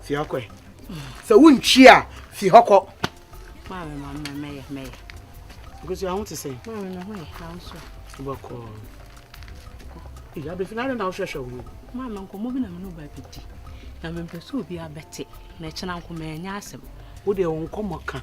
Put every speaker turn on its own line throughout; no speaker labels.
Fi hɔ kɔ. Sɛ wontwi a, fi hɔ kɔ. Maame ma
mɛ mɛyɛ mɛyɛ. Nkosi
aho te sɛn? Maame mɛ ho yɛ ahosuo.
Wobɛkɔ.
Ee abɛfi na na wohwɛhwɛ wo ho. Maame nkɔmmɔ bi na me
ne ba bi di. Na mempɛ sɛ obi abɛte na ɛkyena nko mɛnyɛ asɛm. Wo deɛ wo nkɔmmɔ
ka.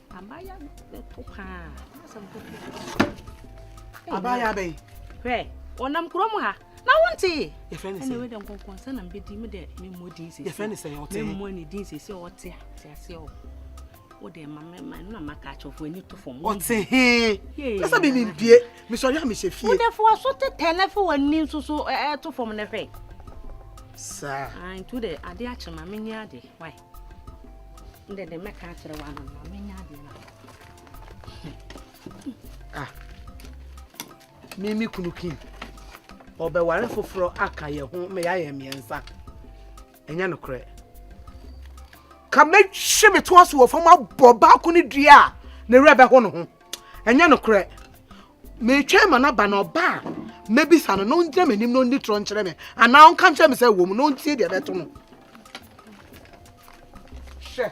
Abaayewa
no bɛpo paa. N'asɛm kɔkɔ. Abaayewa bɛn? Hwɛ, ɔnam
kurom ha. Na wontee. Yɛfrɛ ne sɛ. Ɛna wei dɛ
nkɔnkɔnsa na mbɛdi
me dɛ memmɔ din sese. Yɛfrɛ ne sɛ ɔte.
Memmɔ ne din sese
ɔte a. Te aseɛ o. Wo dɛ ma me ma na ma ka kyɛfo ani to fam. Ɔte he.
Yɛ sɛ me mendie. Me sɔre a mehyɛ fie. Wo dɛ fo aso tetɛ
na fo w'ani nso so ɛɛ to fam na hwɛ. Saa.
Ah, ntu dɛ
ade akye ma menyɛ ade. Why? Ndɛ dɛ mɛka akyerɛ wa no na menya
adeɛ no Ah, me me kunu Kim ɔbɛware foforɔ aka yɛ ho ma yɛayɛ mmiɛnsa ɛnyɛ nokorɛ ka mɛhwe me toa so wɔ fam abɔ baako ne dua a ne werɛ bɛho no ho ɛnyɛ nokorɛ Metwɛn ma no aba, na ɔba a, mɛbisa no na ɔngyina m'anim na ɔnni torɔ nkyerɛ me, anaa ɔnka nkyerɛ me sɛ wɔ mu na ɔntie deɛ ɛbɛto no. Hwɛ.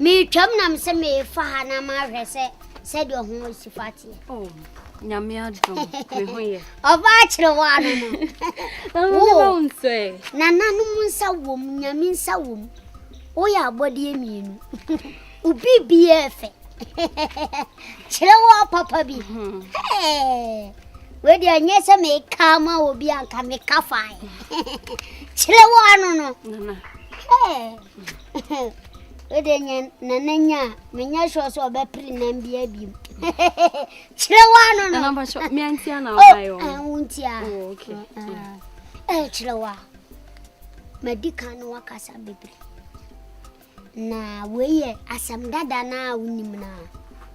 Meretwam na me sɛ merefa ha na mahwɛ sɛ sɛdeɛ ɔho si fa teɛ. Oh,
nyame adom me ho yɛ. Ɔbaa kyerɛ
wɔ ano
no. Wo nananom nsa
wom, nyame nsa wom. Woyɛ abɔdeɛ mmienu. Obi biara fɛ. Kyerɛ wɔ papa bi. Hmm. Wei deɛ nyɛ sɛ meka ama obi anka meka fae. Kyerɛ wɔ ano no. wode nyɛ nana nya a menyɛ sure sɛ ɔbɛpere nam bia biom kyerɛ wa no no
oh, eh, wontia oh, eh, eh,
kyerɛ wa madi ka no wakasa bebree na wei yɛ asɛm dada no a wonim no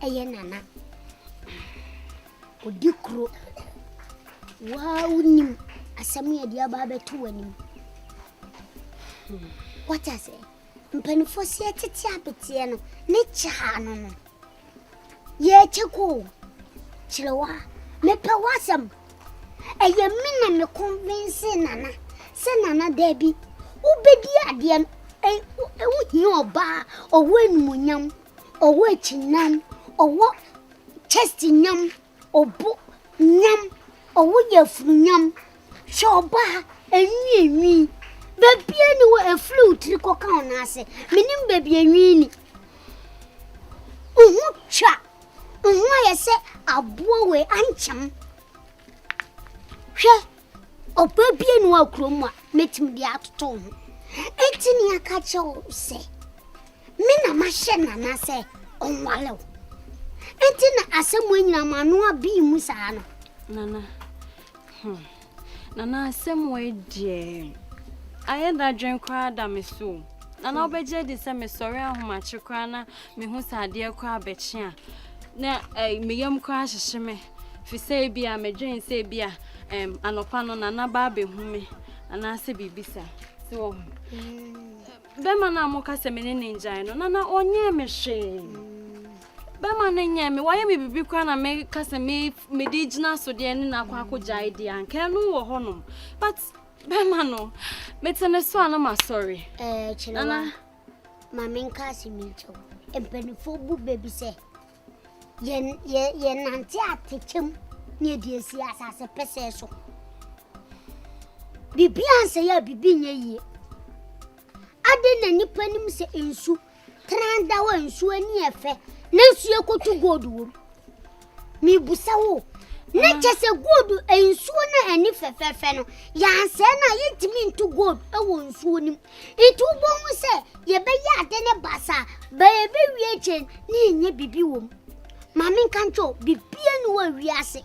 a ɛyɛ nana ɔdi kuro waa wonim asɛm yɛde aba abɛto w'anim wate ase mpanimfoɔ si tete abeteɛ no ne kyaa no no yɛkyɛ ko kyerɛ wa mepɛ w'asɛm ɛyɛ me na me convince nana sɛ nana daabi wobɛdi adeɛ no ɛwo hia ɔbaa ɔwɔ animonyam ɔwɔ akyinam ɔwɔ chest nyam Obu nyam, ɔwo yafunu nyam, hwɛ ɔba ha, enwi enwi, baabi a ni wɔ efiri wo tiri kɔka wo nan ase, menim baabi enwi ni. Oho twa, oho ayɛ sɛ aboa wei ankyɛm. Hwɛ, ɔba bi ni wɔ kurom a, mɛtumi de atoto ho. Eti ni aka kyɛ wo sɛ. Me na mahyɛ Nana sɛ ɔnware wo. Enti na asɛm anyina ma ano abɛn mu saa no. Nana,
hmm, Nana asɛm wɔ deɛ ayɛ dadwen koraa da me so. Nana wobɛgye adi sɛ mesɔre ahomakye koraa na mehu sɛ adeɛ koraa bɛkye a na eh, meyam koraa hyehye me fi sɛ ebi a medwen sɛ ebi a um, anɔpa no Nana ba abɛhu me anaasɛ biribi saa. Sɛ wɔ ho. Hmm. Bɛrima no a moka sɛ me ne no ngyae no, na na ɔnyɛɛ me hwee. Bɛrima no nyɛɛ me, wayɛ me biribi koraa na meka sɛ me mede gyina so deɛ ne no akɔ akɔgyae deɛ anka ɛno wɔ hɔnom. But bɛrima no, mete ne so a na masɔre. Ɛɛ, kyerɛ wa,
ma menka asɛm yi nkyɛw. Mpanimfoɔ bu bɛ bi sɛ Yɛnante atɛkyɛ mu na yɛde asi asase pɛsɛɛ so. Biribi ansɛe a biribi nyɛ yie. Adɛn na nnipa nim sɛ nsu tran da hɔ a nsu ani yɛ fɛ nanso yɛkɔtu gold wom? Mebusa wo, na kyɛ sɛ gold nsuo no ani fɛfɛɛfɛ no, yɛansɛe no a yɛntumi ntu gold wɔ nsuo no mu. Enti wubohu sɛ yɛbɛyɛ ade no basaa, bere a ebewie kyɛn na yɛnyɛ biribi wom. Ma menka nkyerɛ wo, biribiara nni hɔ wɔ wiase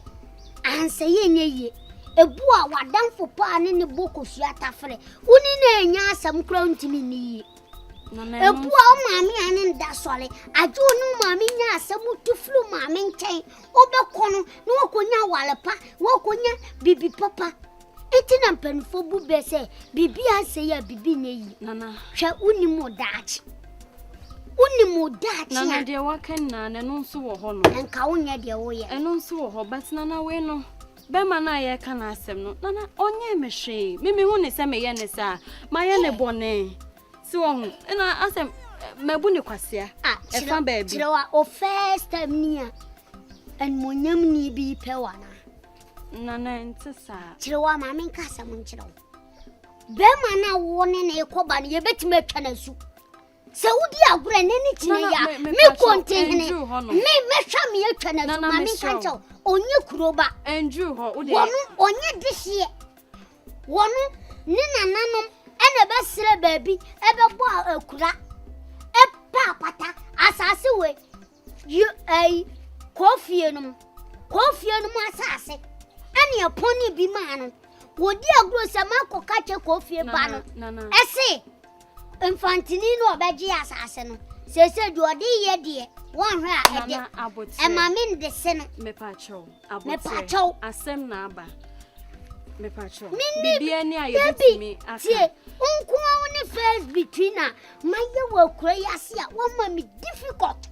a ansa yɛnyɛ yie. Ebu a w'adamfo paa ne no bɔ kosua tafere wo ne no annya asɛm koraa a ontumi nni yie. Ebu a wo maame a ne no da sɔre agye wo ne wo maame nya asɛm tu firi wo maame nkyɛn, wobɛkɔ no na woakonya aware pa, woakonya biribi papa. Enti na mpanyimfo bu bɛ sɛ biribi ansɛ yi a biribi nyɛ yie. Nana. Hwɛ, wonnim
wo
daakye. Wonnim wo daakye
a. Nana deɛ waka nyinaa no, ɛno nso wɔ hɔ no. Nka wonyɛ deɛ woyɛ.
Ɛno nso wɔ hɔ, but
Nana wei no, bɛrima no a yɛreka n'asɛm no, Nana ɔnyɛɛ me hwee. Me mehu ne sɛ meyɛ ne saa. Mayɛ ne bɔne. Si wɔ ho. Ɛna asɛm mabu ne kwasea. Ah, ɛfa baabi. Kyerɛ wa, o first
time ni a, animonyamni bi pɛ wa na. Nana
ɛnte saa. Kyerɛ wo ama menka
asɛm nkyerɛ wo. Bɛrima no a wo ne ne kɔba no yɛbɛtumi atwa no asu. Sɛ wodi agorɔ ɛnɛ ne kyina yi a mekɔ ntehene me mɛhwɛ me atwa no asu ma menka nkyɛ wo ɔnyɛ kuro ba. Wɔno
ɔnyɛ dehyeɛ.
Wɔno ne nananom ɛna ɛbɛsrɛ baabi ɛbɛbɔ akura ɛpa apata asase wei Yo ɛyi kɔɔ fie no mu kɔɔ fie no mu asase ɛne ɛpɔn ne bi maa no wɔdi agorɔ sɛ maakɔ ka kyɛ kɔɔ fie ba no ɛse mfantini no ɔbɛgye asase no sese deɛ ɔde yɛ deɛ wɔnhwɛ a ɛde ɛma me nde se no mepakyɛw
mepakyɛw asɛm na aba mepakyɛw biribi ani a yɛbɛtumi aka tie nkoa
wo ne first between a Mayɛ wɔ akura yi ase a wɔma me difficult.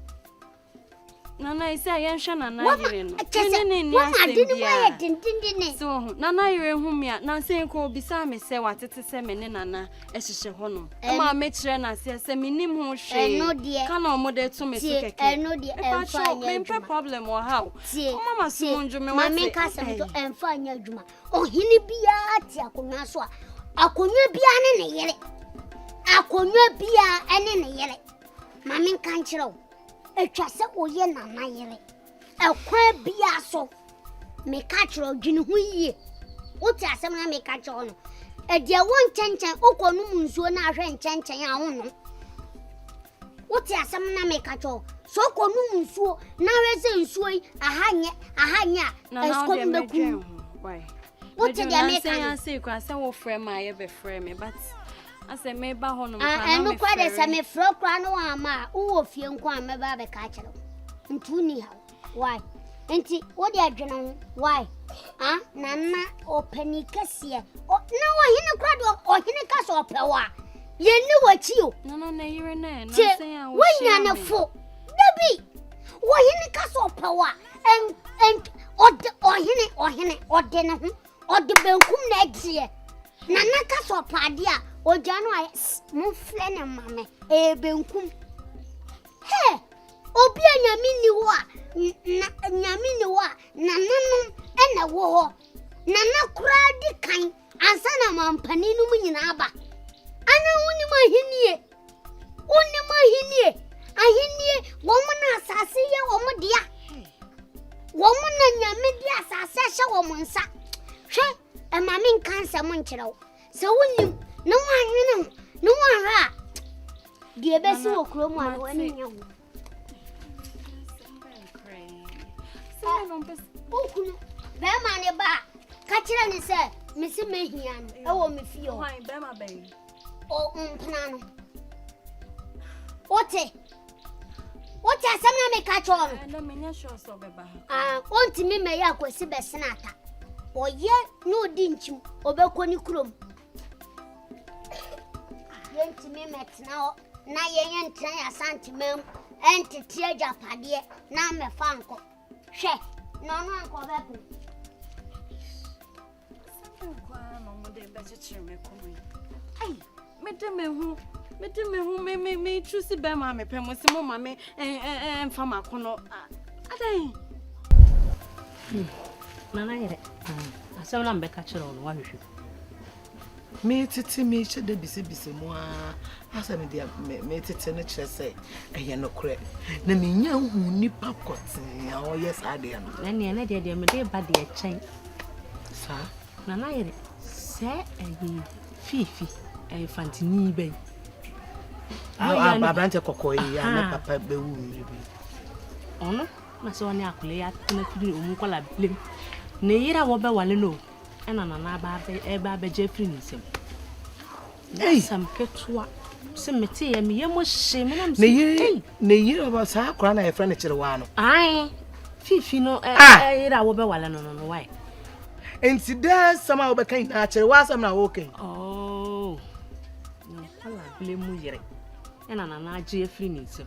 Nana esi a yɛnhwɛ nana yere no. Kyɛ sɛ wɔn ade no
mu ayɛ dendendene. So ho nana
yere ho mi a nansa yi kɔ obisa me sɛ watete sɛ me ne nana ɛhyehyɛ hɔ nom. Ɛma me kyerɛ n'aseɛ sɛ me nim ho hwee. Ka na wɔn de to me so kɛkɛ. Ɛno deɛ ɛnfa nyɛ
adwuma. Ɛpatwo mempɛ problem wɔ ha o.
Wɔn ama so mu ndwo me wɔte. Tie maame nkasa mi so
ɛnfa nyɛ adwuma. Ɔhene biara te akonnwa so a, akonnwa biara ne ne yere. Akonnwa biara ne ne yere. Ma menka nkyerɛ wo, atwa sɛ woyɛ nana yere. Ɛkwan biara so, meka kyerɛ wo, dwene ho yie. Wote asɛm na meka kyerɛ wo no. Ɛdeɛ wo nkyɛnkyɛn, wokɔ nom nsuo na ahwɛ nkyɛnkyɛn a wonom. Wote asɛm no na meka kyerɛ wo sɛ wokɔnom nsuo na ahwɛ sɛ nsuo yi aha nyɛ aha nyɛ a ɛsukɔm bɛku wote
deɛ
meka no sɛ wofrɛ
ma yɛbɛfrɛ me but asɛ meba hɔ nom ɛno kora de sɛ
mefrɛ koraa na wɔama a wowɔ fie nko a mɛba abɛka akyerɛ wo nti wonni haw Why? Nti wo deɛ dwene ho why? Ah, nana ɔpani kɛseɛ na ɔhene kora deɛ ɔhene ka sɛ ɔpɛ wo a yɛnni w'akyi o nti
wonya ne fo
da bi ɔhene ka sɛ ɔpɛ wo a ɔhene ɔhene ɔde ne ho ɔde benkum na agyeɛ nana ka sɛ ɔpɛ adeɛ a ɔgya no ayɛ momfrɛ ne ma me ɛyɛ benkum hɛ Obi a nyame nni hɔ a, na nyame nni hɔ a, nananom na ɛwɔ hɔ. Nana koraa di kan ansa na mampanin no mu nyinaa ba. Ana wonim ahennie? Wonim ahennie? Ahennie, wɔn na asase yɛ wɔn dea. Wɔn na nyame de asase ahyɛ wɔn nsa. Hwɛ, ɛma me nka nsɛm nkyerɛ wo. Sɛ wonnim na woannwene ho na woanhwɛ a, deɛ ɛbɛsi wɔ kuro mu a na w'ani nyɛ ho. Wokunu bɛrima ne ba a, ka kyerɛ ne sɛ mese mɛhia no ɛwɔ me fie hɔ.
Ɔmpena
no. Wote? wote asɛm na meka kyerɛ wo no
wontumi
mmɛyɛ akwasi bɛsena ata ɔyɛ na ɔdi nkyim ɔbɛkɔ ne kurom yɛntumi mmɛtena hɔ na yɛnyɛ ntena yɛ asantema mu ɛntete agyapadeɛ na mmɛfa nkɔ hwɛ na ɔno ankɔ bɛpo
Sɛnde nko ara na ɔmo de bɛkyekyere me kɔn yi. Ai, mede me ho, mede me ho, me me me tu si bɛrima a mepɛ mo si mo ma me mfa mako no. Adɛn?
Nana yere, asɛm na mbɛka kyerɛ wo no wahwehwɛ.
Meetsetse meehyɛ da bisabisa mu ara, asɛ me deɛ me meetsetse no kyerɛ sɛ ɛyɛ nokorɛ, na menya hu nipa pɔtee a ɔyɛ saa adeɛ no. Na neɛ na deɛ deɛ mede
ba deɛ kyɛn. Saa.
Na na yɛ de
sɛ ɛyɛ fifi ɛyɛ fantini ba yi.
Aberante kɔkɔɔ yi a na papa bɛwu mmiri bi.
Ɔno na sɛ ɔne akɔlɛ yɛ atena firi ɔmu nkɔla bilem. Ne yere a wɔbɛwale no o. ɛna nana aba ɛba abɛgye afiri ne nsam
asɛm ketewa
sɛ mete yɛ meyɛ mo hye me nam sɛ ei ne yere
ba saa akora na yɛfrɛ no kyerɛ waa no ae
fifi no ɛyere a wobɛwale no no no wae nti
dɛ nsɛm a wobɛka nyinaa kyerɛ waasɛm na woka yi oh
ne nkwalabele mu yere ɛna nana agye afiri ne nsam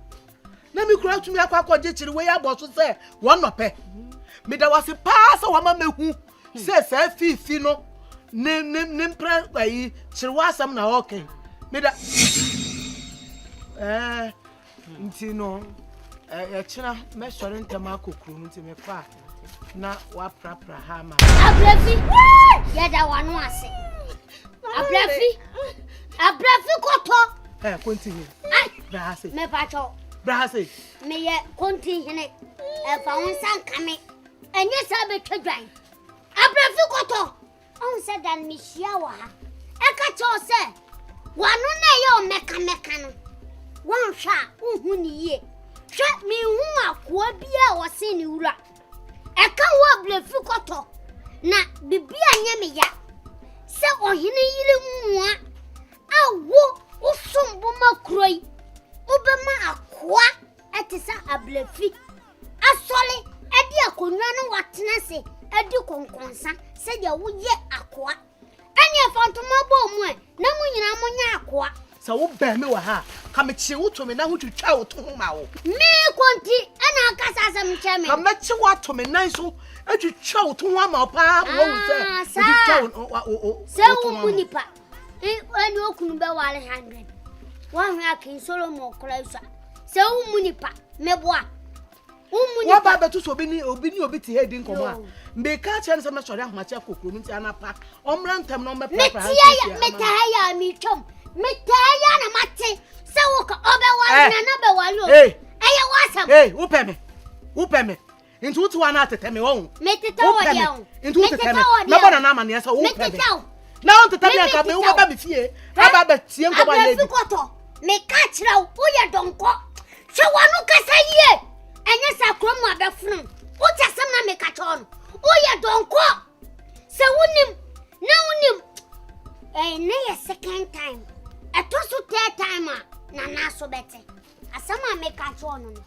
na me kura tumi akɔ akɔgye kyere wei abɔ so sɛ wɔn nɔpɛ meda wase paa sɛ wɔama mehu sɛ saa fiifi no ne ne ne mprɛ ayi kyere wɔ asɛm na ɔɔkɛ meda ɛɛ nti no ɛkyena mɛsɔre ntɛm akɔ kuro no nti mefa a na woaprapra ha ama me abrɛfi
yɛda w'ano ase abrɛfi abrɛfi kɔtɔ ɛ konti hene
bra ha se mepatwɔ
bra ha se
meyɛ
konti hene ɛfa wo nsa nka me ɛnyɛ saa bɛtwa dwan abrɛfi kɔtɔ Ɔhu sɛ da no mehyia wɔ ha. Ɛka kyerɛ wo sɛ w'ano na ɛyɛ wo mɛkamɛka no, woanhwɛ a wonhu ne yie. Hwɛ, menhu akoa biara a wɔsen ne wura. Ɛka wo a brɛfiri kɔtɔ, na biribi a nyɛ me ya. Sɛ ɔhene yere mmoa a wo wosom bo ma kuro yi, wobɛma akoa ɛte sɛ abrɛfi. Asɔre de akonnwa no watena ase adi kɔnkɔnsa sɛdeɛ woyɛ akoa. Ɛnneɛ fa ntoma bɔ mu ɛ, na mo nyinaa monyɛ akoa. Sɛ wobɛn me wɔ
ha a, ka mekyee wo to me nan ho twitwaa wo to ho maa wo. Merekɔ nti
na aka saa asɛm kyerɛ me. Ka mɛkye wo ato me
nan so atwitwa wo to ho ama wo paa ma woahu sɛ metwitwa wo to ho ama wo.
Ɔne okunu bɛware hundred. Woahwɛ King Solomon koraa yi so a, sɛ wommu nipa, mɛboa. Wommu
nipa. Woaba abɛto so obi ne obi ne obi te ha di nkɔmmɔ a, meka kyerɛ no sɛ mɛsɔre ahomakye akɔ kurom nti anapa ɔmmra ntɛm na ɔmmɛprapra ha nsia. Metaa yɛ a
metwam. Metaa yɛ na mate sɛ woka ɔbɛware eh. na na bɛware o. Ɛyɛ w'asɛm. Wopɛ me. Wopɛ me. Nti wo tiwa na tetɛ me wɔn. Me tetɛ wɔ deɛ o. Nti wo tetɛ me.
Mɛbɔ nana amaneɛ sɛ wo pɛ me. Na wo tetɛ me anka bɛ wo bɛba me fie. Aba bɛ tie nkɔmɔ ayɛ bi. Abɛfi kɔtɔ. Me
ka kyerɛ wo wo yɛ dɔnkɔ. Sɛ wɔn no kasa yie. Ɛnyɛ sɛ akɔn mu abɛfunu. Wo te asɛm na me ka kyerɛ wɔn. Wo yɛ dɔnkɔ. Sɛ wo nim na wo nim. Ɛyɛ ne yɛ second time. Ɛtɔ so third time a nana so bɛte. Asɛm a meka kyerɛɛ no no,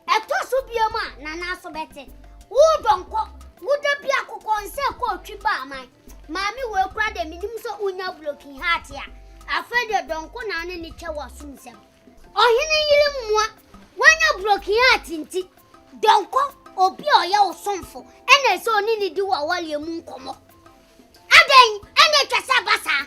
ɛtɔ so biom a, Nana nso bɛte. Woo dɔnkɔ, wo da bi akokɔ nsɛ kɔ otwi ba aman. Maame wei kora deɛ menim sɛ wonya broken heart a, afei deɛ dɔnkɔ na ne ne twɛ w'aso nsɛm. Ɔhene yere mmoa, wanya broken heart nti, dɔnkɔ obi a ɔyɛ wo somfo ɛna ɛsɛ ɔne ne di w'awareɛ mu nkɔmmɔ. Adɛn ɛna atwa sɛ ɛba saa?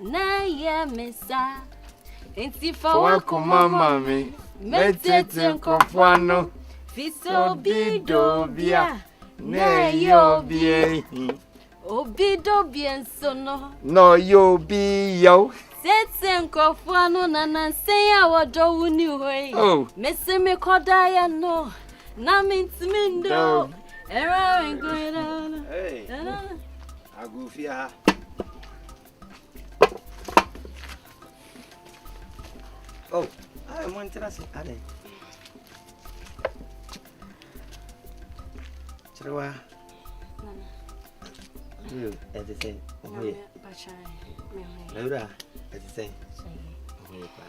Na yɛ me sa. Enti fa wakoma ma me.
Mɛtete nkɔfo ano. Fi sɛ obi
dɔ obi a. Na ɛyɛ
obi ehi. Obi
dɔ obi nso no. Na ɔyɛ obi
yaw. Tete nkɔfo
ano na nansa yi a wɔdɔ wo ni hɔ yi. Oh. Mese
mekɔda
yɛ no. Na mentumi ndɔ. Ɛrɛ nkwere no. Hey.
Agorofie ha. Oh, ah, mo ntena se adɛn. Kyerewa. Yo, ɛte sɛ ɔho yɛ. Awura, ɛte sɛ ɔho yɛ paa.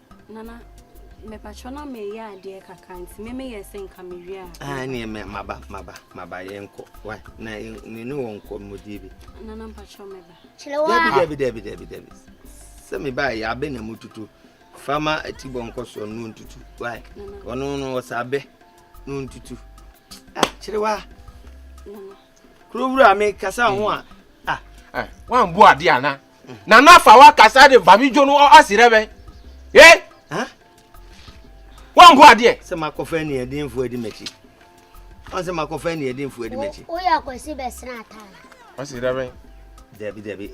Nana, mepakyɛw na meyɛ adeɛ kakra nti me meyɛ sɛ nka mewie a. Ah, ɛneɛ me maba
maba maba yɛnkɔ wa na me ne wɔn nkɔ mmɔdie bi. Nana
mpakyɛw meba. Kyerɛ wa. Dabi dabi
dabi dabi dabi. Sɛ meba a yɛabɛ na mu tutu. Fama ati bɔ nkɔ soɔ no ntutu. Wa ɔno no ɔsɛ abɛ no ntutu. Ah, kyerɛ wa. Nana. Kuro wura me kasa ho a. Ah, ah,
wɔn bu adeɛ ana. Nana fa wa kasa de fa mi dwo no ɔsi dɛ bɛn ye wɔn bo adeɛ. sɛ makɔfa aniɛdenfo
adi m'akyi wɔn sɛ makɔfa aniɛdenfo adi m'akyi. woyɛ akwasi bɛsena
ataa. ɔsi dɛ bɛn.
dabi dabi.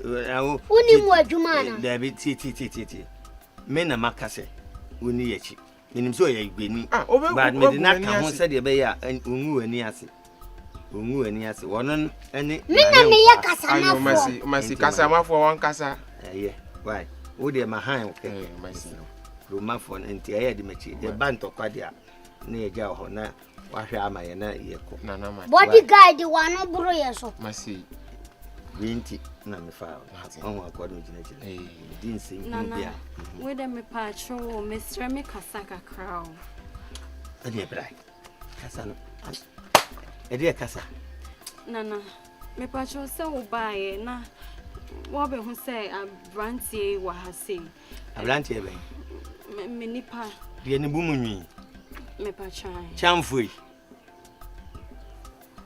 wonim
wɔ adwuma ana. dabi tie tie tie
tie tie me na maka sɛ wonni yɛ akyi. Menim sɛ ɔyɛ Igbeni, ah, but mede no aka ho sɛdeɛ ɛbɛyɛ a ɔngu w'ani ase. Ɔngu w'ani ase. Wɔno ne nane nkwa.
Ayo, masi, masi, kasa
mafoɔ wɔn kasa. Ɛyɛ, why?
Wo deɛ ma han wo kɛkɛ. Masi. Romafoɔ no nti ɛyɛ de makyi. Yɛba ntɔkwa deɛ a, na yɛgya wɔ hɔ na Wahwɛ ama yɛ na yɛkɔ. Nana ma. Body
guard
wano boro yɛ so. Ma sei.
Wei nti
na me fa ɔho akɔ no gyina gyina. Di nsɛm bi a. Nana. Wei
dɛ me pa akyerɛ wo mesrɛ me kasa kakra o.
Ɛdeɛ bra. Kasa no. Ɛdeɛ kasa. Nana.
Me pa akyerɛ sɛ wo baayɛ na wɔbɛho sɛ abranteɛ yi wɔ ha sei. Aberanteɛ
bɛn? Me me
nipa. Deɛ ne bu mu nwi.
Mepa
kyan. Kyanfoe.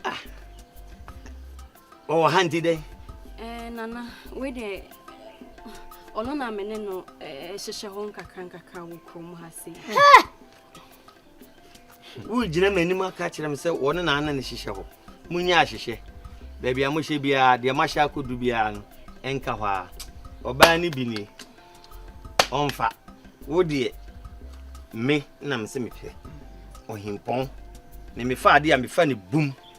Ah. Ɔwɔ ha nti dɛn? Eh, nana,
wei deɛ ɔno na me ne no eh, hyehyɛ hɔ nkakra nkakra wɔ kurom ha sei.
Woregyina m'anim aka akyerɛ me sɛ wɔne na ana ne hyehyɛ hɔ. Monyɛ ahyehyɛ. Baabi a mohyɛ biara, deɛ mahyɛ akɔdu biara no, ɛnka hɔ ara. Ɔbaa no bi nie. Ɔmfa. Wo deɛ, me na mese mepɛ. Ɔhempɔn. Ne mefa adeɛ a, mefa no bum.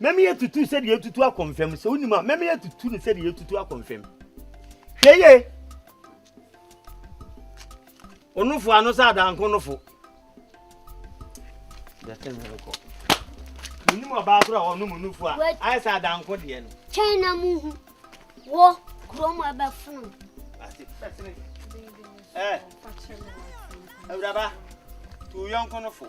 Mɛma yɛatutu sɛdeɛ yɛtutu akɔ mfam. Sɛ wonim a, mɛma yɛatutu no sɛdeɛ yɛtutu akɔ mfam. Hwɛ yie. Onofo ano sɛ adanko nofo. Dɛsɛ mi rekɔ. Menim ɔbaa koro a ɔnom onofo a ayɛ sɛ adanko deɛ no. Twɛn na mu hu.
Wɔ kurom ɛbɛfono. Ase fɛsene.
Ɛɛ. Awuraba, tu yɔnko nofo.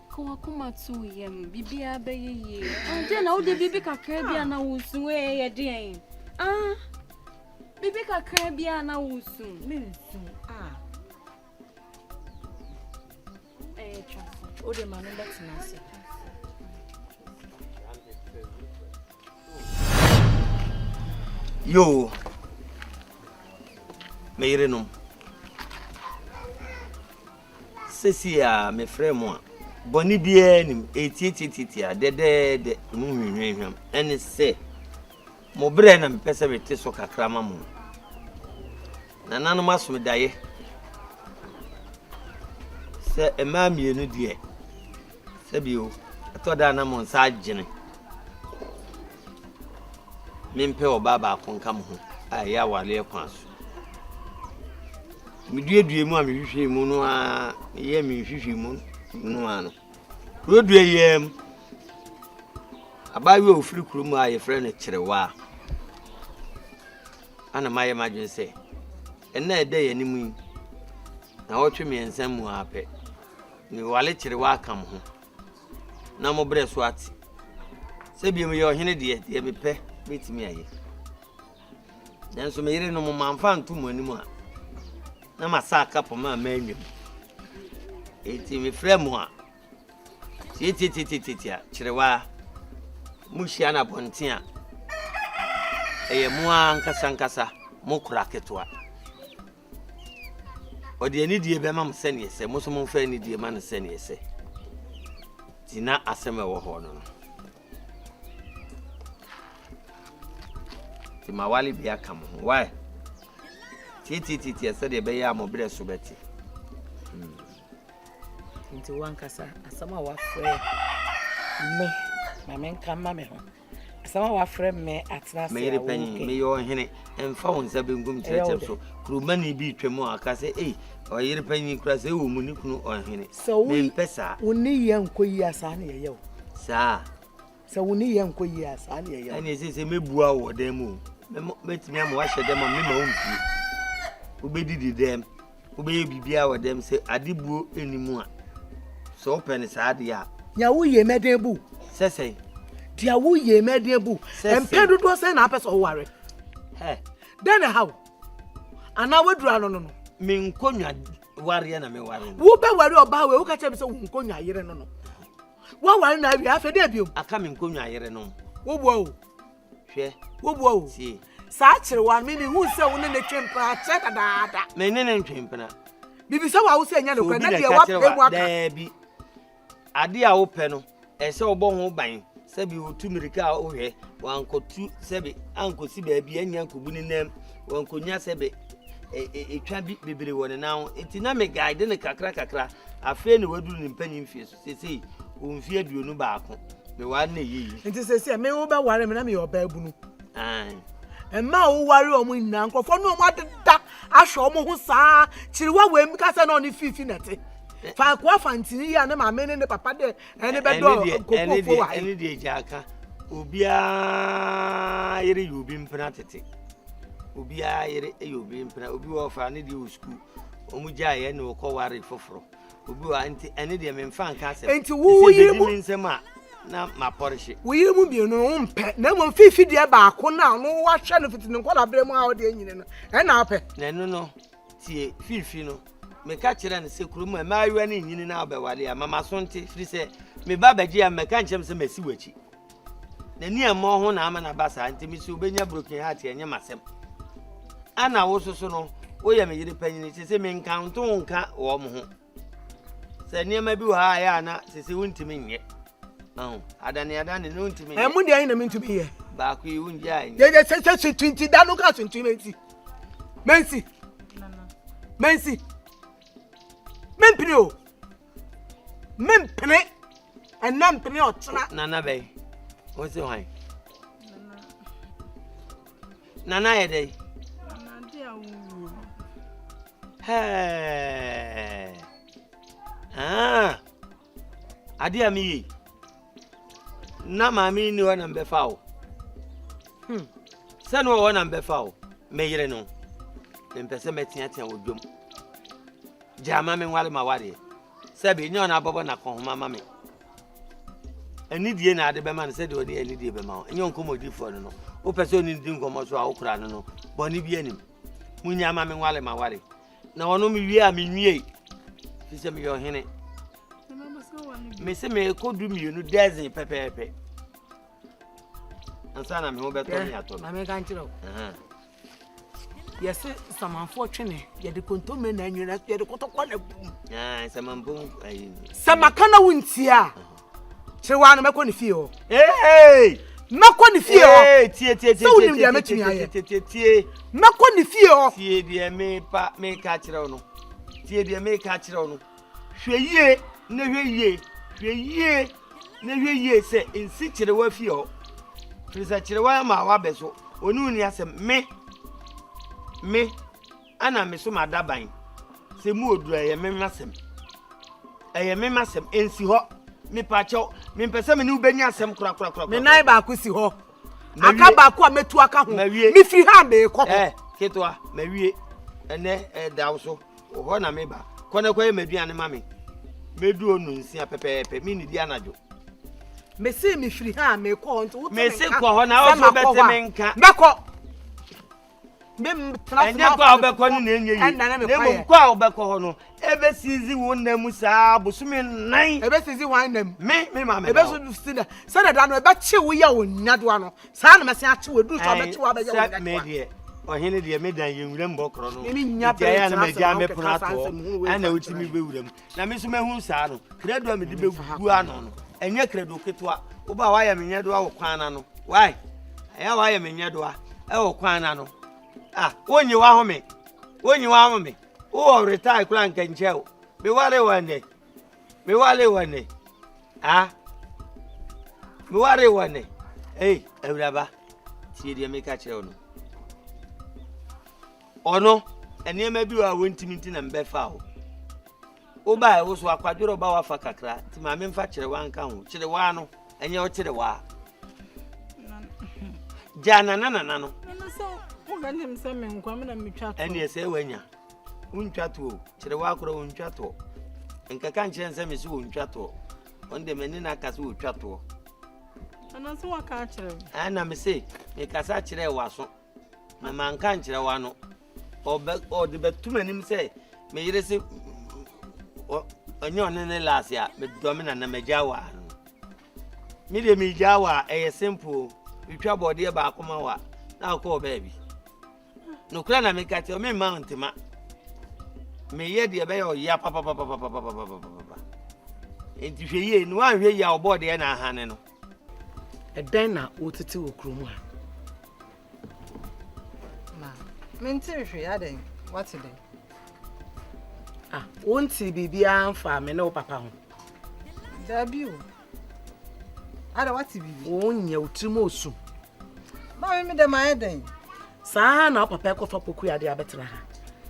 Ka w'akoma to wo yam, biribiara bɛyɛ yie. Andeɛ na wode biribi kakra bi a na wosu ee yɛ deɛn? Ah, biribi kakra bi a na wosu. Mensu a.
Ɛyɛ twa so. Wode ma no bɛtena ase.
Yo, me yerenom. Sesie a mefrɛ mo a, bɔne biara nnim, eetiatiatiatia, dɛdɛɛdɛ, emu hwamhwamhwam, ɛne sɛ, mo berɛ na mepɛ sɛ mete so kakra ma mo. Nananom asom daeɛ sɛ mmaa mmienu deɛ. Sɛ bio, ɛtɔ da a na mo nsa agyene. Mempɛ ɔbaa baako nka mo ho a ɛyɛ awareɛ kwan so. Meduadua mu a mehwehwɛ mu no a meyɛ me nhwehwɛ mu no a no. Kurodua yɛɛ mu. Abaayewa a ofiri kurom a yɛfrɛ no Kyerewaa. Ana mayɛ m'adwene sɛ, ɛnna ɛda yɛn anim yi, na ɔtwe mmiɛnsa mu ara pɛ. Ne wale kyere w'aka mo ho. Na mo brɛ so ate. Sɛ bio meyɛ ɔhene deɛ, deɛ mepɛ mɛtumi ayɛ. Nanso me yere no mo mamfa nto mo anim a, na masa aka poma a manwam. Enti mefrɛ mo a, tietietietietia kyerewaa. Mohyia no abɔnten a, ɛyɛ mo ara ankasa ankasa mo kora ketewa. Ɔde anidie bɛma mo sɛdeɛ sɛ mo nso momfa anidie ma no sɛdeɛ sɛ. Nti na asɛm a ɛwɔ hɔ no no. Nti ma wale bi aka mo ho. Why? Tietietietie sɛdeɛ ɛbɛyɛ a mo berɛ so bɛte.
Hmm. Nti wankasa asɛm a wafrɛ me ma menka ma me ho. Asɛm a wɔafrɛ me atena ase a wopɛ. Me yere panyin, meyɛ
ɔhene, mfa wo nsa benkum kyerɛkyerɛ so. Kuromani bi retwa mu a ɔka sɛ, ei, ɔyere panyin kura sɛ ɛwɔ mu ne kunu ɔhene. Mempɛ saa. Sɛ wo ne yɛ nkɔ yie
a saa na yɛyɛ o. Saa.
Sɛ wo ne
yɛ nkɔ yie a saa na yɛyɛ o. Ɛne sɛ sɛ mɛbua wɔ
dan mu o. Mɛtumi ama wahyɛ dɛm a mema wo mpie. Wobɛdidi dɛm. Wobɛyɛ biribiara wɔ dɛm sɛ ade buo nni mu a, sɛ wopɛ no saa deɛ a. Nea woyie mɛ den
bu. Sɛ sɛn?
Deɛ woyie
mɛ den bu. Sɛ sɛn? Mpɛn dodoɔ sɛn na apɛ sɛ ɔware? Hɛ. Dɛn na ɛha wo? Anaa woaduru ano no no? Me nkonnwa
wareɛ na meware no. Wobɛware ɔbaa
wei woka kyerɛ me sɛ wo nkonnwa yere no no. Woaware no awie afei dɛn biom? Aka me nkonnwa yere no.
Woboa o.
Hwɛ.
Wobua o. Tie.
Saa akyerewa
no, me
mehuu sɛ wo ne no twe mpena akyɛ dadaada. Me ne no ntwe mpena.
Mebisa wɔ a wo
sɛ ɛnyɛ nokorɛ na deɛ woapɛ mu aka. Daabi.
Adeɛ a wopɛ no, ɛsɛ wobɔ ho ban sɛbi wotu mmirika a wohwɛ wankɔtu sɛbi ankɔsi baabi anya nkɔbu ne nam wankɔnya sɛbi ɛtwa e, e, bi bebree wɔ ne nan ho nti na me guide no kakra kakra afei na waduru ne mpanyin fie so Seesei ɔwɔ mfeɛ aduonu baako. Meware no ɛyɛ yi. Nti seesei a me
wobɛware me na meyɛ ɔbaabunu. Ae. mma a woware wɔn nyinaa nkurɔfoɔ ne wɔn adeda ahwɛ wɔn ho saa kyiriwa wei mi ka sɛ na ɔne fiifi na ɛte faako afa ntini yi a ne maame ne ne papa deɛ ɛne bɛdɔ kokoofo wɔ ha yi. ɛne deɛ gya aka
obiara yere yɛ obi mpena tete obiara yere yɛ obi mpena obi wɔ ɔfa ne deɛ wɔ sukuu wɔn gyaeɛ na wɔkɔ ware foforɔ. Obi wa nti ɛne deɛ memfa nka asɛm. Nti wo wo yere mu
nsɛm a na
ma pɔrehye. Wo yere mu mmienu no
wompɛ na mmom fifi deɛ baako no a no wahwɛ no fiti ne nkɔla berɛ mu a
ɔde
anyini no
ɛna
wopɛ. Na ɛno
no
tie fifi no meka
kyerɛ no sɛ kurom mmaayewa no nyini na wobɛwale a ma maso nte firi sɛ me ba bɛgye a mmɛka nkyerɛ me sɛ masi w'akyi. N'ani a ɛmmɔɔ ho na ama no aba saa, nti mise obenya broken heart ɛnyɛ m'asɛm. Ana wo soso no, woyɛ me yere panyini, sese menka nto wo nka wɔn ho. Sɛ nneɛma bi wɔ ha a ɛyɛ a na sese wontumi nyɛ. Ahu, adaneadane no wontumi nyɛ. Ɛmu deɛ ayi na mentumi yɛ.
Baako yi wongye a
nyɛ. Yɛyɛ sɛ sɛ suntu nti
da no ka suntu menti. Menti. Menti. Mempene o. mempene ɛnɛ mpene ɔkyena nana bɛn
mo se hwan nana yɛ dɛ ah. adeɛ a meyei na maame nni hɔ na mbɛfa wo hmm. sɛ ne ɔwɔ na mbɛfa wo meyere no mempɛ sɛ mɛteatea wɔ dwom Gyaa ma me nware m'awareɛ. Sɛbe, ɛnyɛ ɔna abɔbɔ n'akɔnhoma ama me. Anidie na ade bɛma no sɛdeɛ ɔde anidie bɛma wo, ɛnyɛ nkɔmmɔdifoɔ no no. Wopɛ sɛ ɔne di nkɔmmɔ so a wokora no no, bɔne bi anim. Monyaa ma me nware m'awareɛ. Na ɔno mewie a menwiei, fi sɛ meyɛ ɔhene. Mese merekɔ du mmienu dɛzen pɛpɛɛpɛ. Ansa na me ho bɛtɔ me atɔ me.
Yɛse samanfoɔ twe ne, yɛde kontomire na anwene na yɛde kɔtɔkɔ na bu. Naa
samanfo ayi. Sɛ maka
na wontie a, kyerɛ waa no mɛkɔ ne fie hɔ. Ee.
Mɛkɔ ne fie
hɔ. Ee tie tie tie. Sɛ wonim deɛ mɛtumi ayɛ. Tie tie
tie. Mɛkɔ ne fie hɔ.
Tie deɛ mepa
meka kyerɛ wo no. Tie deɛ meka kyerɛ wo no. Hwɛ yie na hwɛ yie, hwɛ yie na hwɛ yie sɛ nsi kyerewa fi hɔ, firi sɛ kyerewa ama wabɛ so, ɔne wo nni asɛm. Me, me, ɛna me so m'adaban, sɛ mu wɔ duru a, ɛyɛ me m'asɛm, ɛyɛ me m'asɛm, ɛnsi hɔ. Mepaakyɛw, mempɛ sɛ me ne wo bɛnya asɛm korakorakora. Me nan baako si hɔ,
aka baako a mɛtu aka ho, mefiri ha a merekɔ hɔ. Ɛ, ketewa,
mawie, ɛnɛ ɛda wo so. Wo hɔ na meba. Kɔ na kɔyɛ m'aduane ma me. Medu hɔ nnunsia pɛpɛɛpɛ. Mennidi anadwo. Mese
mefiri ha a, mekɔ hɔ nti wote me nka. Mese kɔ hɔ na wo
nso wobɛte me nka. Mɛkɔ. Ɛnyɛ kɔ a wobɛkɔ no na ɛnyɛ yie, na mmom kɔ a wobɛkɔ hɔ no, ɛbɛsizi wo nna mu saa bosome nnan. Ɛbɛsizi hwan nna mu?
Me, me maame na wo.
Ɛbɛsizi
sɛdeɛ da no ɛbɛkye wo yɛ wo nnadewa no. saa na mɛsen akye wo ɛduru sɛ ɔbɛkye wo abɛyɛ wo nyɛ me deɛ ɔhene
deɛ me dan yɛ nwura mu hɔ korɔ no nti ayɛ na magya
me pono
atoɔ ɛna wotumi bɛwura mu na me nso mahu saa no krado a mede bɛgu ano no ɛnyɛ krado ketewa woba a woayɛ me nyɛ doa wɔ kwan na no wae ɛyɛ woayɛ me nyɛ doa ɛwɔ kwan na no ah wonye wahome wonye wahome wowɔ retae koraa nkankyɛ o meware wɔ ɛnɛ Me ware wɔ ne. Ah. Me ware wɔ ne. Ei, awuraba. Tie deɛ meka kyerɛ wo no. Ɔno, nneɛma bi wɔ a wɔntumi nti na mbɛfa wo. Wobae wo so akwadworɔ ba wafa kakra, nti maame mfa kyerɛ wa nka ho. Kyerɛ wa no, ɛnyɛ ɔkyerɛ wa. Gya nana nana no. Ɛno sɛ wobɛnim
sɛ menkwa me na metwa to. Ɛneɛ sɛ wanya.
Wontwa toɔ o, kyerɛ waa korɔ wontwa toɔ. Nkɛka nkyerɛ nsɛ me se wontwa toɔ. Ɔno deɛ mene no aka se wotwa toɔ. Ɛno
nso waka akyerɛ me. Ɛɛ na me se
mekasa kyerɛ waso na manka nkyerɛ wano. Ɔde bɛto m'anim sɛ me yere se ɔnyɛ ɔne ne laase a medɔ me nana magya waa no. Me deɛ megya waa ɛyɛ simple o. Metwa bɔɔdeɛ baako ma wa na akɔ baabi. Nokorɛ na meka kyerɛ wo, meremma wo ntema. Meyɛ deɛ ɛbɛyɛ ɔyea papapapapapapapapapa. Enti hwɛ yie, na woanhwɛ yie a ɔbɔɔ deɛ na ahane no. Ɛdɛn
na wotete wɔ kurom ha? Na
mente hwee adɛn, wate dɛn?
Ah, wonte biribiara mfaa me ne wo papa ho? Daabi
o. Ada wate biribi? Wonyɛ, wo tirim osu.
Maame
me dɛm ayɛ dɛn? Saa ha na
papa kɔfa pokuya de abɛtena ha.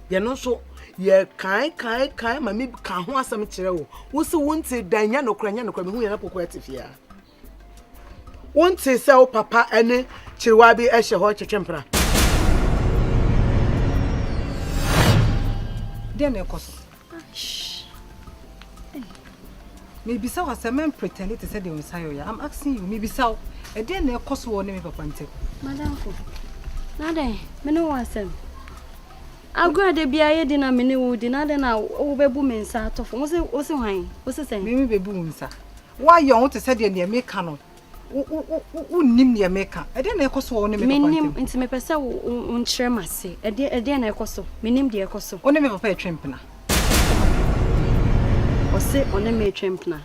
Yɛn nso yɛ kan kan kan ma mi ka ho asɛm kyerɛ wo. Wo se wo nte dan nya no kora nya no kora mehu yɛn na pokuya te fie a. Wo nte sɛ wo papa ne kyerewa bi ɛhyɛ hɔ twetwe mpra.
Deɛ na ɛkɔ so. Mebisa wo asɛm, mɛn pretend te sɛ deɛ wo nsa yɛ ɔya. I'm asking you, mebisa wo, ɛdeɛ na ɛkɔ so wɔ ne me papa ntɛm?
Madamfo, na dɛn,
me ne wo
asɛm. Agorɔ da biara yɛ di na me ne wo di, na dɛn na wobɛbu me nsa atɔfo, wo se hwan, wo se sɛn? Me me bɛbu wo nsa,
woayɛ wo te sɛ deɛ deɛ meka no. Wonnim deɛ meka. Ɛdeɛn na ɛrekɔ so wɔ wo ne me papa ntam? Mennim, nti mepɛ sɛ
wonkyerɛ me ase. Ɛdeɛn na ɛrekɔ so? Mennim deɛ ɛrekɔ so. Wo ne me papa retwe mpena. Ɔse ɔne me retwe mpena.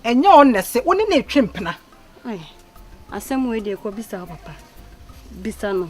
Ɛnyɛ ɔno na ɛse wo ne no retwe mpena.
Asɛm wei deɛ kɔbisa wo papa. Bisa no.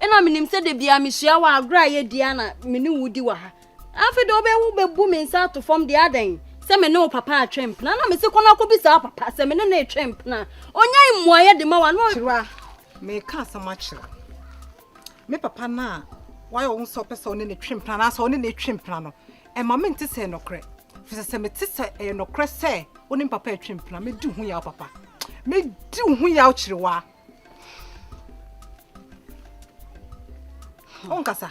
Ɛna menim sɛ da biara mehyia wo a agorɔ a yɛdi ara na me ne wo di wɔ ha. Afei deɛ wobɛyɛ wobɛbu me nsa ato fam deɛ adɛn? Sɛ me ne wo papa atwe mpena na mese kɔ na kɔbisa wo papa sɛ me ne no retwe mpena a, ɔnyae mmuaeɛ de ma wo anaa? Kyerwa, mereka
asɛm akyerɛ wo. Me papa no a wayɛ wo ho sɛ ɔpɛ sɛ ɔne no twe mpena anaasɛ ɔne no retwe mpena no, ɛma mente sɛ ɛyɛ nokorɛ. Ɛfiri sɛ sɛ mete sɛ ɛyɛ nokorɛ sɛ wo ne me papa retwe mpena a, mɛdi wo ho yaw papa. Mɛdi wo ho yaw Kyerwa. wonkasa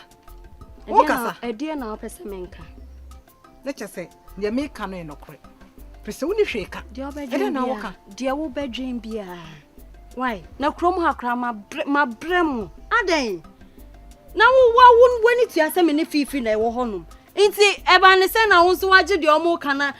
wonkasa ɛdeɛ na wopɛ sɛ
menka ne kyɛ
sɛ deɛ meka no yɛ nɔkorɛ pɛ sɛ wone hwee ka ɛdɛ na woka
deɛ wobɛdwen biaa wai na kurom ha koraa mabrɛ mu adɛn na wowa w'ani tua sɛ me ne fiifi na ɛwɔ hɔnom nti ɛba ne sɛ na wo nso wagye deɛ ɔmo ka na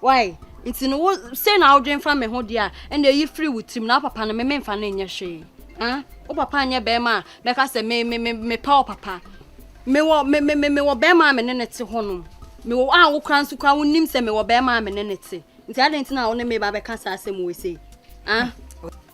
Wai nti no wo sei na wodwen fa me ho deɛ a ɛna eyi firi wo tirim na wo papa no me memfa no nyɛ hwee ah wo papa nyɛ bɛrima a mɛka sɛ me me me mepɛ wo papa mewɔ me me me mewɔ bɛrima a me ne ne te hɔ nom mewɔ a wo kora nso kora wonim sɛ mewɔ bɛrima a me ne ne te nti adɛn nti na wo ne me ba bɛka saa asɛm wei sei ah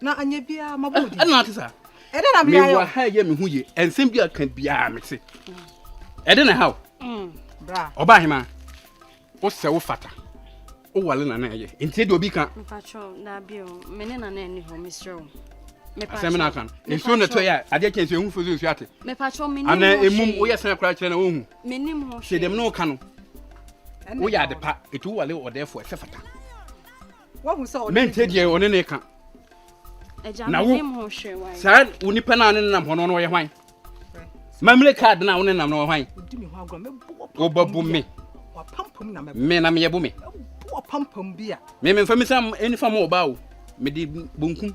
na anyɛ biara
ma bɔ ɛna ate saa
ɛdɛ na meyɛ wɔ
ha yɛ me ho yie
ɛnsɛm bi aka biara me se ɛdɛ na ha o mm, ɔbaa
hema
wo sɛ wo fata wowale nana ɛyɛ nti deɛ obi ka
asɛm no aka no nsuo na
tɔyɛ a adeɛ kyɛ nsuo ɛhu fo sɛ nsuo ate ana
ɛmum woyɛ sena
koraa kyerɛ na wohu hyɛ dɛm
ne woka no
woyɛ ade pa ɛtu wowale ɔdɛɛfoɔ ɛsɛ fata
mente deɛ ɔne ne ka
na wo saa wo nipa no a ne
nenam hɔ no no ɔyɛ hwan mamire card no a wo nenam no ɔyɛ hwan
wobɛbo me me na meyɛ bo me me memfa me sa
ɛnifa ma ɔbaa o mede bonkum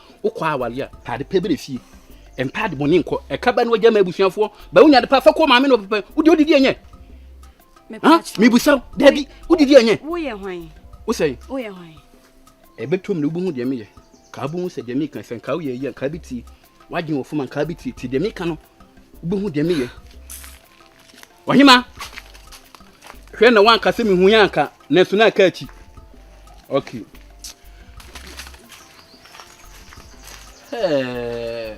Wokɔ aware a, taade pɛ bere fie. Ntaade bɔne nkɔ. Ɛka ba ne wagya ma abusuafoɔ. Ba wonya de pa fa kɔ maame na ɔpepɛ. Wode wodidi ɛnyɛ?
Mebusa wo, daabi,
wodidi ɛnyɛ? Woyɛ hwan?
Wosɛe? Woyɛ
hwan?
Ɛbɛtɔ mu
na wobɛhu deɛ meyɛ. Kaa bɛhu sɛ deɛ meka sɛ nkaa woyɛ yie a nkaa bɛtie. Woadwene wɔ fam a nkaa bɛtie. Tie deɛ meka no, wobɛhu deɛ meyɛ. Ɔhema, hwɛ na wanka sɛ mehu yɛ anka, nanso na aka akyi. Okay. Hey.